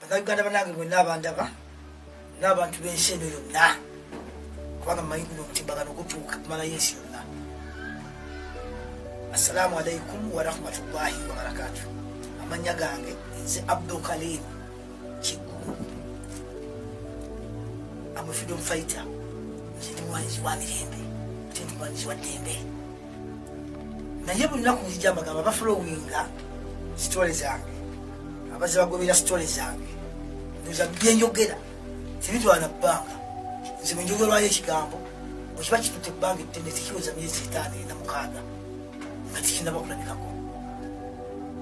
abanayuganda banange mwena abandaba n'abantu b'ensi eno yonna kubanga mumanyi guno omutimbagano gutuuka kumalayo ensi yonna assalamu alaikum warahmatullahi wabarakatu amanya gange nze abdukalim kigulu amufidom fighter nze ndi mulwanizi wa mirembe ate ndi mulwanizi wa ddembe naye buli naku nzija mbagamba bafolowinga sitole zange abaze bagobera sitole zange ndoza byenjogera tebitwana bbanga nze bwenjogerwayo ekigambo bwekiba kitute ebbanga ettene tekiweza myezi etaano ena mukaaga nga tekinaba kulabikako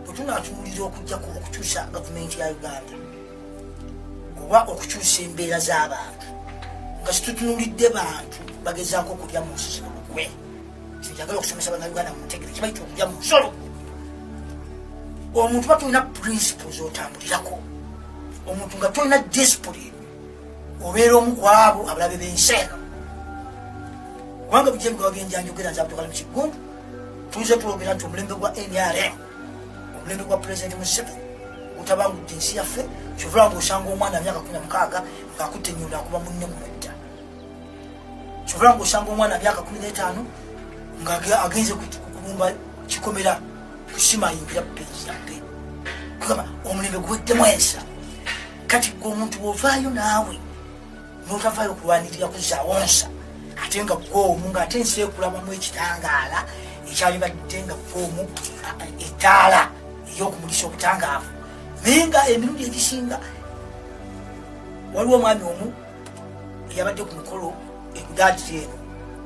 bwetunatuulira okujjako okukyusa gavumenti ya uganda oba okukyusa embeera z'abantu nga situtunulidde bantu bagezaako okulya mu nsi zino lukwe njagala okusomesa banauganda muntegere kibaita okulya mumusolo omuntu ba tulina principles otambulirako omuntu nga tolina discipline obeera omu kwabo abalabe bensi eno kubanga bujemgawagenjanjogera nze abdukalimu kigundu tuze twogera nti omulembe gwa nrm omulembe gwa pulezidenti musibe gutabangudde ensi yaffe kyovula nga osanga omwana myaka kumi na mukaaga ngaakutte nyundo akuba munne mumedda kyova nga osanga omwana myaka kumi n'etaano nga agenze kubumba kikomera kusima yingira peyiyabbe kugamba omulembe guweddemu ensa kati gwe omuntu wovaayo naawe notavaayo okulwanirira kuzaawo nsa ate nga gwomu nga ate ensi ekulabamu ekitangaala ekyalibadde nga gwomu ettaala eyokumulisa obutangaavu naye nga emirundi egisinga waliwo omwami omu eyabadde ku mukolo egudaagiri eno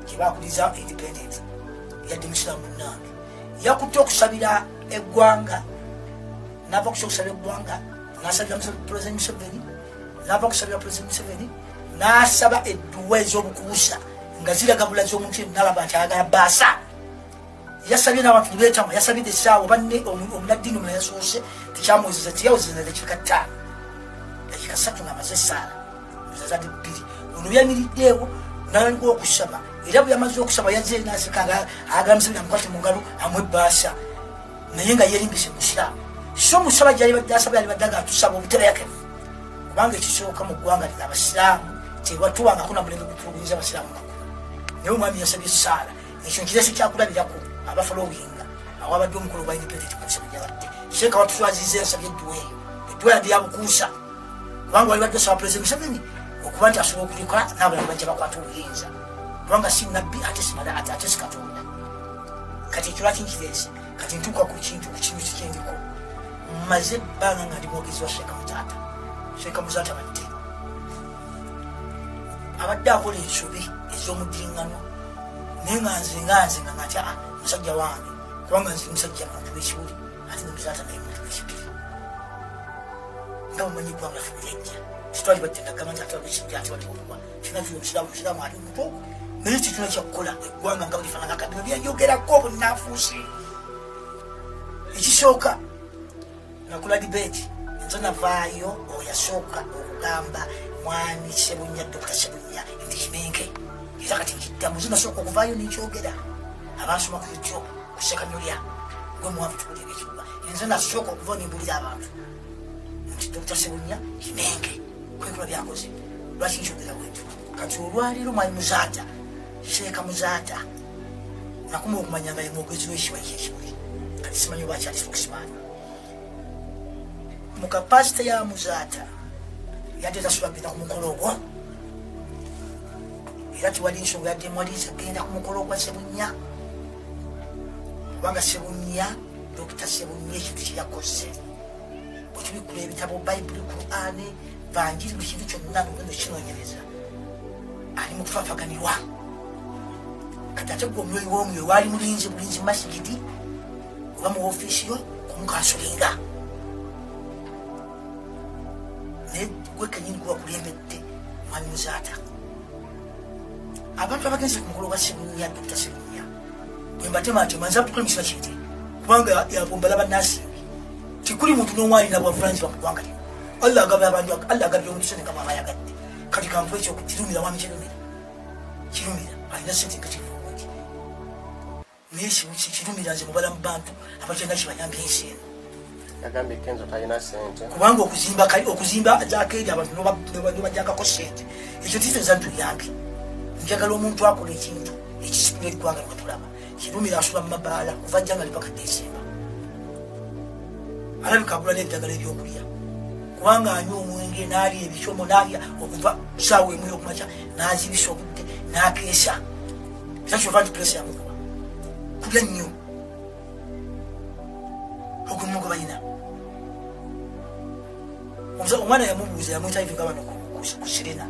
gyebakuliza independent yadde musiramu munange yakutte okusabira eggwanga nava kusa okusabira eggwanga nasabira president museveni nava okusabira president museveni nasaba edduwa ez'obukuusa nga ziragabula z'omuntu enalaba nti ayagala baasa yasabye n'abantu nebeetama yasabidde essaawa banne omunaddiini omula yasoose tekyamwezeza teyawezeza dakiika ttaano dakiika satu ng'amaze essaala ezazade bbiri ono yamiriddeewo nalanga okusaba era bwe yamaze okusaba yazze nasika nga agambisabira mukwate mu ngalo amwebbaasa naye nga yerimbise musiraamu so musaba gyali badde asaba yali badde nga atusaba obutereyakevu kubanga ekisooka mu ggwanga lina abasiraamu tewatuwangako namulembe gutulugunyiza abasiraamu makulu naye omwami yasabye essaala ekyo nkirese kyakulabirako abafolowinga awabadde omukulu gwa independent kanisa bweyabadde seeka watuswaziza ensabye edduwa eyo edduwa yadde yabukuusa kubanga wali badde osaba pulezidenti museveni okuba nti asobola okulikola n'abalala bajja bakwata obuyinza kubanga si nabbi ate simala ate ate si katonda kati ekyo lwaki nkirese kati ntuuka ku kintu ku kintu kikyendiko mmaze ebbanga nga ndi mwogezi wa seeka mutaata seeka muzaata badde abadde akola ensobi ez'omudinganwa naye nga nze nga nze nga natya ah, musajja wange kubanga nze musajja muntu wekibuli ate nemuzaata naye muntu wekibuli nga bumanyi eggwanga ffe byejja kitwali battendagamba nti ate wabekijja ate wali okuba kyona kiri omusiraamu musiraamu ali muto naye kituna kyakukola eggwanga nga bulifanana kati byenjogerako obunanfuusi ekisooka nakula debate nze navaayo oyasooka okugamba mwami sebunya dokita sebunya nti kimenke era kati nkiddamu nze nasooka okuvaayo nenkyogera abasoma ku youtube kusekanolya gwe muwanvu tukulira ekibuga nze nasooka okuva nembulira abantu nti dokita sebunya kimenke kwekula byakoze lwaki nkyogera bwentyo kati olwaleero mwali muzaata seeka muzaata nakuma okumanya nga yemwogezi wekibali kyekibuli kati simanyi oba akyali spokesman mu kapasite ya muzaata yadde tasula genda ku mukolo ogwo era tewali nsonga yadde mwaliza genda ku mukolo ogwa sebunya kubanga sebunya dokita sebunya ekintu kyeyakoze bwetubikula ebitabo bayibuli kurani vanjiri buli kintu kyonna nogenda okinonyereza ali mu kufafaganirwa kati ate gwe omwoyo womwoyo waali mulinzi bulinzi masigidi kuba mu ofiisi yo kumukansulinga naye gwe kenyini kuba kulembedde mwami muzaata abantu abagenze ku mukolo gwa sibunya dokita sibunya bwembatemaatema nza tukole mukisa kinte kubanga yabombala banasimbi tikuli muntu nomwalina bwavunanyizibwa mu ggwanga lino allah agabye abantu allah agabye omuntu sente nga mwaba ayagadde kati kankuba ekyo kirumira mwami kirumira kirumira alina sente nga kivu naye ekimu kikirumira nze mubala mu bantu abakyenda kibayambye ensi eno yagambye kenzo talina sente kubanga okuzimba kali okuzimba ajakeri abantu nobajagako sente ekyo tife zantu yambi njagala omuntu akola ekintu ekisitula eggwanga lwetulaba kirumira asula mu mabaala kuva jjanga lipaka desemba alabika agula n'eddagala ebyokulya kubanga anywa omwenge naalya ebicomo naalya okuva saawa emu yokumakya nazibisa obudde nakeesa era kyova nti pulesi yamukuba kulya nnyo ogulimu gwe balina omwana yamubuuza yamuyita ivinga bano ku sirina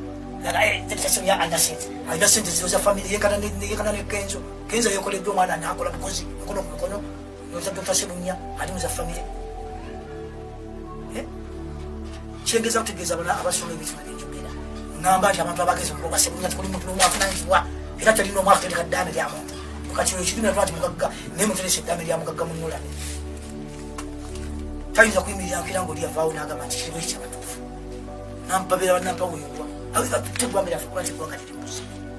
alina sente ziro za famiry yekana nekenzo kenzo yekoleddwa omwana nakola bukozi mukono ku mukono Nyoza Dr. Sebunya ali muza family. Eh? Chengeza kutegeza bana abasoma ebitu by'enjogera. Ngamba nti abantu abagezi mu Dr. Sebunya tukuli mu tulomu afuna njiwa. Era tali no mwaka tendeka dame lya muntu. Kati yo chidina twati mugagga ne mutelese dame lya mugagga mu nyola. Tayinza kuyimirira akira ngo lya vawo naga manti kiriwe kya batufu. Nampabira banampa wuyuwa. Awi ka tutegwa mira fukwati kwa kati.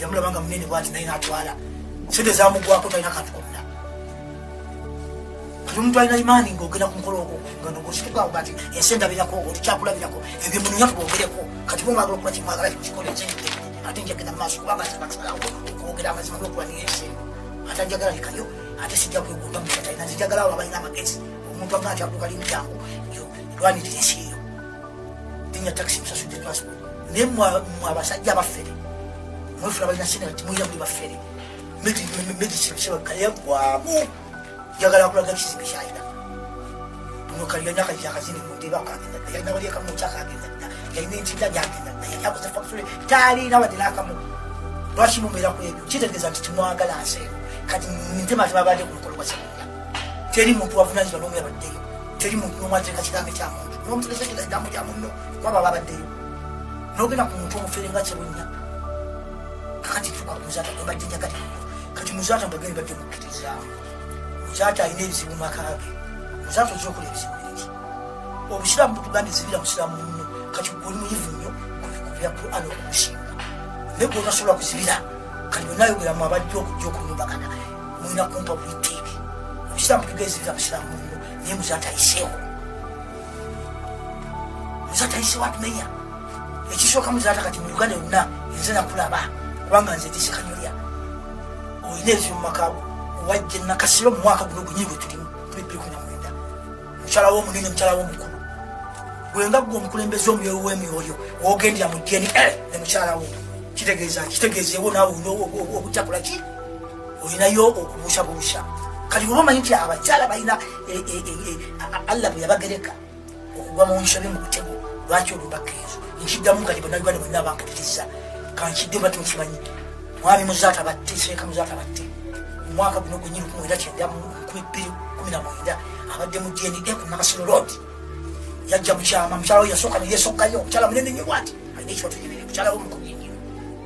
yamulaba nga munene bwati naye natwala sente zamugwako talina kantu konna kati omuntu alina imaani ngaogenda ku mukolo ogwo nga nogositukawo gati ensi endabirako olikyakulabirako ebyo munonya tubongereko kati bwomwagala okuba kimwagala kikikola ekyente ate njagenda mumaaso kubanga sibakusalawo okwogera amazima nokulanira ensi ate njagala likayo ate sijja kwegunda mukatalina nzijagala abo abalina amagezi omuntu agaa nti aduka limyangu lwanirira ensi eyo linya takisi musasudde transport naye mwe abasajja abafere mwefula balina sina ti mulina muli bafere medisinsebakayagwamu njagala akulaga ekizibu kyayina ono kaliyanya akajakazini mundeba akagenda dda yalina wali akamu kyakagenda dda yalina entinda gyagenda dda yali akoze fakitule taliina wadde n'akamu lwaki mubeera ku ebyo kitegeeza nti timwagala nseero kati ntema tebabadde ku mukolo gwa sebunya teri muntu wavunanyizibwa n'omu yabaddeyo teri muntu nomu ateeka kigambo kya muntu nomutegeza kyo kigambo kya munno kuba baba abaddeyo nogenda ku muntu omufere nga kyebunya kakati tuka muzata nobajjinja kati kati muzata mbageni badde mukkirizamu muzata alina ebizibu maka ge muzata oja okola ebizibu bingi obusiraamu butugambye zibira musiraamu munno kati goli muyivu nnyo kubya quran okusinga naye gwonasobola kuzibira kati bwenayogeramu abajja okujja okunyumbagana mulina kumpa buyitiibi omusiraamu tugeezereza musiraamu muno naye muzatayiseewo muzatayiseewo atumenya ekisooka muzaata kati mu uganda yonna enze nakulaba kubanga nze ndisekanyolya olina ebyo mu makaago wajja nakasiro mu mwaka guno gunyini gwe tulimu tubipikunamwenda mukyala wo omunene mukyala wo omukulu gwenga gwe omukulembeze omyoyo wemyoyo wogendera mu dna eh, ne mukyala wo kitegeeza kitegeeza ewo naawe obutakola ki olinayo okubuusabuusa kati oba omanyi nti abakyala balina e, e, e, allah bwe yabagereka okugwa mu nsobi mu butego lwaki olubaka ezo nkiddamu kati banauganda bonna bankatiriza kankidde bati mukimanyi mwami muzaata batte seeka muzaata batte omwaka guno gwenyini kumwera kyenda kumi bbiri kumi na mwenda abadde mu dna ku nakasiro road yajja mukyama mukyala we yasooka neyesoggayo omukyala munene nyo bwati alina ekibatunyumire mukyala we mukumi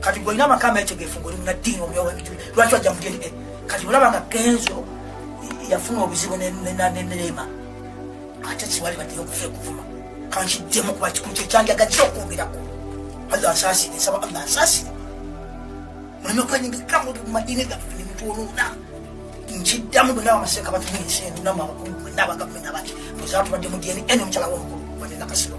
kati gwolina amaka ametegefu ngoli munaddiini omyowa ebituli lwaki wajja mudini eh, kati olaba nga kenzo yafuna obuzibu neneema ate kiwali baddeyo okufa ekuvuma kankiddemu kuba kikulu kyekyanjaga kyo okwogerako allah asaasire nsaba allah asaasire muleme kwenyigika mu madiini gaffe nemutwolona nkiddamu bwe naba amaseeka batuli ensi eno namu abakulu bwe nabagavumenti abaki bwezatubadde mu dna eno omukyala womukulu bwenenakasiro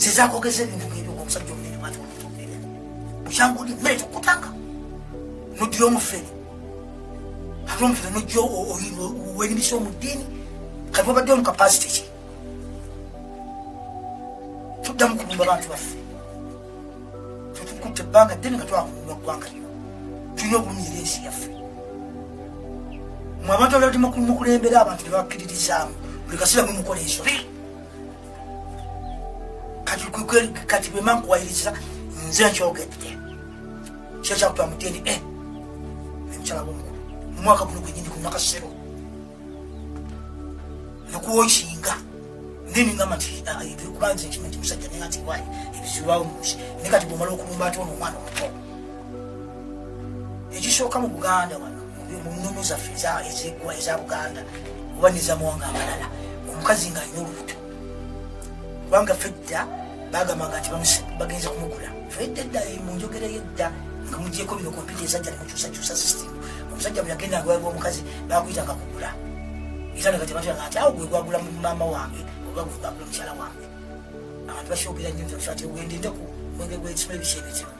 sizakogeza ebintu ngebyo ngaomusajja omunene mwati omutumbere mukyangudi mmere kyokutanga nodira omufere ate omufere nojja werimisa omu ddiini kati wabadde omu kapasite ki tuddamu kulumba bantu baffe tetukutte ebbanga ddene nga twakulumba ggwanga lino tulina okulumira ensi yaffe mwe abantu abali mukulembera abantu tebakkiririzaamu buli kasira mwe mukola ensobi kati kwekweli kati bwema nkuwayiriza nze nkyogedde kyo kyakuta mu dna eh, emukyala womukulu mumwaka guno gwenyini ku mwaka sero nokuwokinga neningamba nti ah, ebikubanza ekimanti musajja naye ati wayi ebizirwawo munsi naye kati bwomala okulumba ati ono omwana omuto ekisooka mu buganda wano mu nnono zaffe ezegwa eza buganda oba nezamawanga amalala omukazi nga alina olubuto kubanga fedda bagamanga nti bagenze kumugula fedda edda mu njogera yedda nga mugyeko bino kompyuta ezajja nemukyusakyusa system omusajja bweyagenda agwalibwa omukazi bakuyitanga kugula era nga tebatanga nti awo gwe gwagula mu maama wange oba gwe gwagula mukyala wange abantu bakyogera nyo nti ati ogende ndeku mwenge gwekisula ebisha ebizibu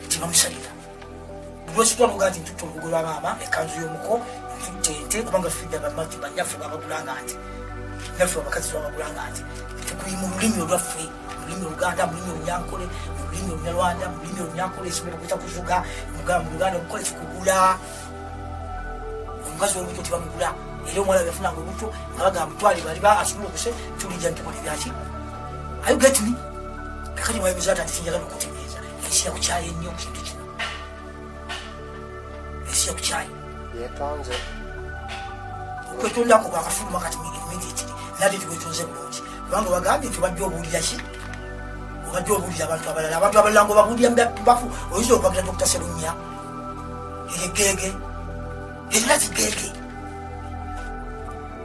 tebamusabira lwekitwamuga nti ntutte olubugo lwa maama ekanzu y'omuko ntutte ente kubanga fidda bamatu banyaffe babagulanga nti naffe abakazi babagulanga nti tekuli mu lulimi olwaffe mululimi oluganda mululimi olunyankole mululimi olunyarwanda mululimi olunyankole esobola okuta kuvuga mugamba mu luganda okukola kikugula omukazi wolubuto tebamugula era omwana yafunanga olubuto nga bagamba mutwale bali ba asobola okuse tulija ntukola ebyaki ayo getmi kakati mwayimiza ati atinjagala okuti ensi yakukyaye nnyo ku kintu kino ensi yakukyaye yetonze okwetundako kwakafuluma kati migiti nate tikwetonze bulungi kubanga obagambye nti obadde obuulira ki obadde obuulira abantu abalala abantu abalala nga obabuulira mubafu oyinza okwagira dokita serunya egegeege erina kigeege